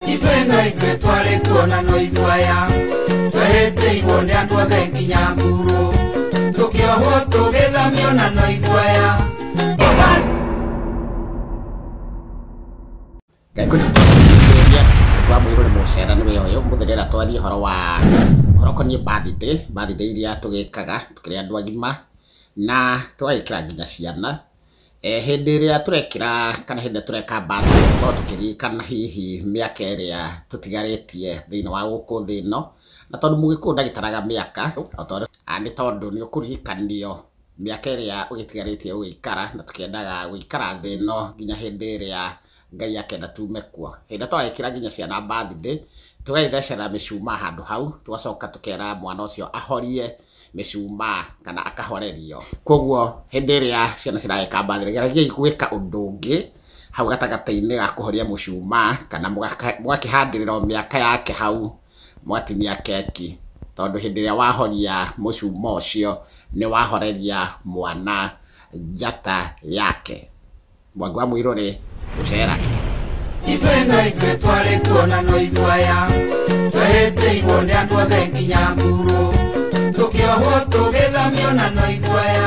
ithuĩ no ithuĩ twarĩ kuo na no ithuaya twereteirwo nĩ andũ othe nginya nguru tũkĩohwo tũgĩthamio na no ithuaya Ngai kũrĩa tũrĩa kwa mwĩrũ nĩ mũcera nĩ wĩra ũyũ mũthenya rĩera twarie ũhoro wa ũhoro ũkoniĩ birthday birthday iria tũgĩkaga tũkĩrĩ andũ agima na tũgagĩkĩra nginya ciana Hĩndĩ ĩrĩa tũrekĩra kana hĩndĩ ĩrĩa tũreka mbathi tũkoragwo tũkĩririkana hihi mĩaka ĩrĩa tũtigarĩtie thĩinĩ wa gũkũ thĩ ĩno, na tondũ mũgĩkũyũ ndagĩtaraga mĩaka, nĩ tondũ nĩ ũkũririkanio mĩaka ĩrĩa ũgĩtigarĩtie gũgĩikara, na tũkĩendaga gũikara thĩ ĩno nginya hĩndĩ ĩrĩa Ngai akenda tume kuo. Hĩndĩ ĩrĩa tũragĩkĩra nginya ciana birthday, tũgagĩthecera mĩcumaa handũ hau, tũgacoka tũkera mwana ũcio ahorie mĩcumaa kana akahorerio. Koguo hĩndĩ ĩrĩa ciana ciragĩka birthday, geragiai gwĩka ũndũ ũngĩ hau gatagatĩ-inĩ ga kũhoria mũcumaa kana mũgakĩhandĩrĩra o mĩaka yake hau, mũgatinia keki. Tondũ hĩndĩ ĩrĩa wahoria mũcumaa ũcio, nĩ wahoreria mwana njata yake. mwangu wa mwĩrore gũcera ithuĩ no ithuĩ twarĩ kuo na no itwaya twehĩtĩirwo nĩ andũ othe nginya ngurũ tũkĩohwo tũgĩthamio na no itwaya